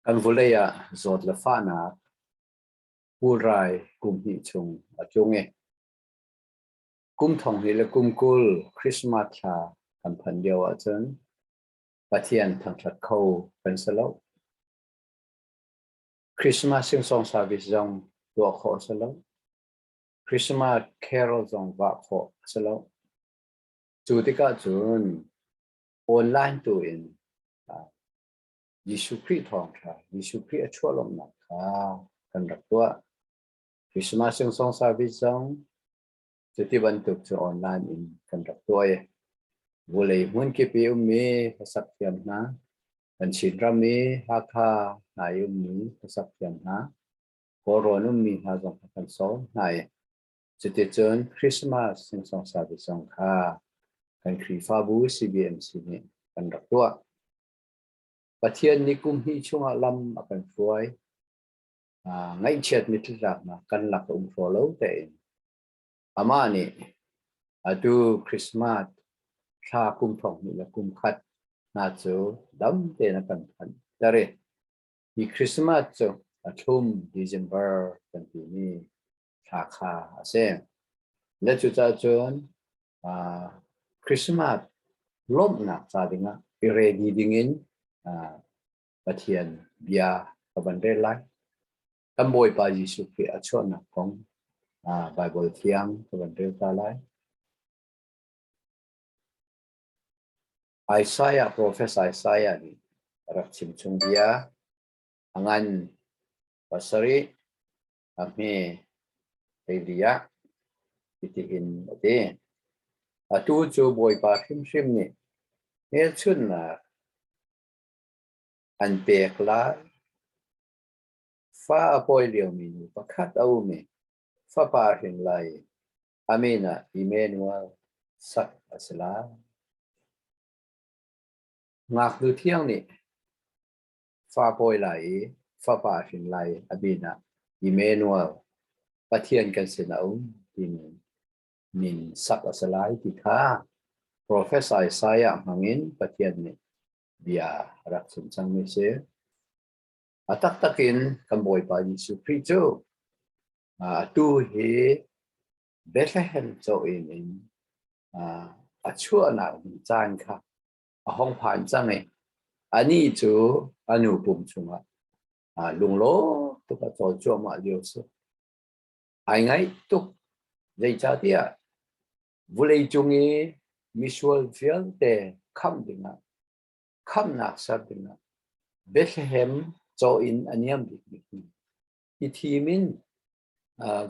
Kan vawlei ah zawt le fahnak pulrai kum hnih chung a tlung i kum thong hnih le kum kul Christmas thla kan phan lio ahcun Pathian thangṭhat kho kan si lo. Christmas sing-song service zong tuah khawh si lo. Christmas carol zong vah khawh a si lo. Cu tikah cun online tu in Jesuh Khrih thawngṭha, Jesuh Khrih a chuah lawmhnak kha kan rak tuah. Christmas in Song Service zong cuti bantuk cu online in kan rak tuah i vulei hmunkip i ummi hlasak thiam hna, kan Chin ram i Hakha hna i ummi hlasak thiam hna, Kawlrawn ummi hna zong kan sawm hna i Cuticun Christmas sungsongsa te zong kha kan Khrihfabu CBMC nih kan rak tuah. Pathian nih kum hnih chungah lam a kan hruai. Uh, ngaihchiatmi tlutlaknak kan lak a um hraw lo tein amah nih atu Christmas thla kum thong hnih le kum khat hna cu dam tein a kan phanh ter i hi Christmas cu a thlum December kan timi thla kha a si. Na cucah cun Christmas lawmhnak ca dingah i ready dingin Pathian bia ka van rel lai. Kan Bawipa Jesuh Khrih a chuahnak kong Baibal thiang ka van rel ta lai. Isaiah, Profes Isaiah nih a rak chimchung bia. A ngan pasarih a hme teili ah hitihin a ti. Atu cu Bawipa hrimhrim nih hmelchunhnak an pek lai. Fa a pawi liomi nu pakhat a um i fapa hrin lai amen ah Emmanuel sak a si lai. Ngaknu thiang nih fa pawi lai i fapa hrin lai a binah Emmanuel Pathian kan sin a um timi min sak a si lai ti kha Professor Isaiah hmangin Pathian nih bia a rak chim cangmi si. A taktak in kan Bawipa Jesuh Khrih cu tu hi Bethlehem cho in in a chuahnak caan kha a hong phan cang i anih cu a nu pum chungah aa lunglaw tuk a cawl cuahmah lio si. Ai ngaih tuk. Zeicahtiah vulei cung i misual vialte khamh dingah, khamhnak ser dingah Bethlehem caw in a niam bikmi hi thim in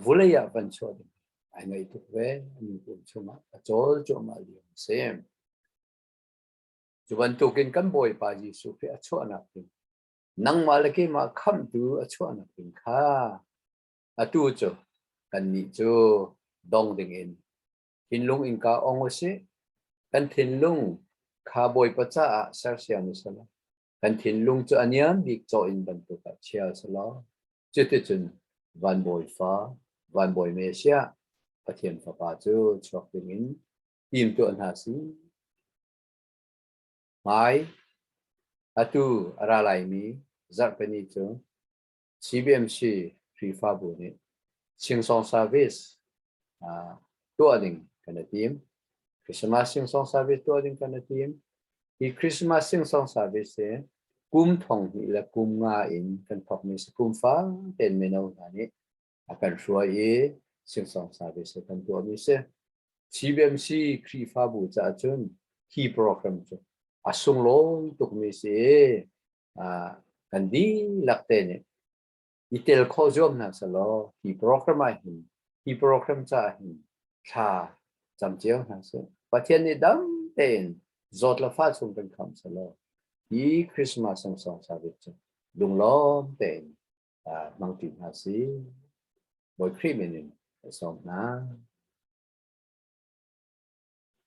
vulei ah van chuah ding ai ngaih tuk ve nu kum chungah a cawl cuahmah lio a si. Cu bantukin kan Bawipa Jesuh Khrih a chuahnak ding nangmah le keimah khamhtu a chuahnak ding kha atu cu kannih cu dong dingin thinlung in ka ong usih kan thinlung kha Bawipa caah sersiam usih kan thinlung cu a niam bik caw in bantuk ah chia a si lo. Cuticun Van Bawi fa, Van Bawi Messiah, Pathian Fapa cu chuak dingin tim tuah hna si. Hmai, atu a ra laimi Zarhpini cu CBMC Khrihfabu nih Singsawng Service uh, tuah ding kan i tim. Christmas Singsawng Service tuah ding kan i tim. Hi Christmas Singsawng Service hi kum thong hnih le kum nga in kan thokmi si kum fang ten mino hna nih a kan hruai i Singsawng Service hi kan tuahmi si. CBMC Khrihfabu caah cun hi program cu a sunglawi tukmi si i kan dihlak te nih i tel khawh zuam hna selaw hi program ah hin hi program ca hin thla cam cio hna sih Pathian nih dam tein zawt la fa chung kan kham selaw hi Christmas sang song savit cu lunglawm tein mang ti hna si Boy Cream in song hna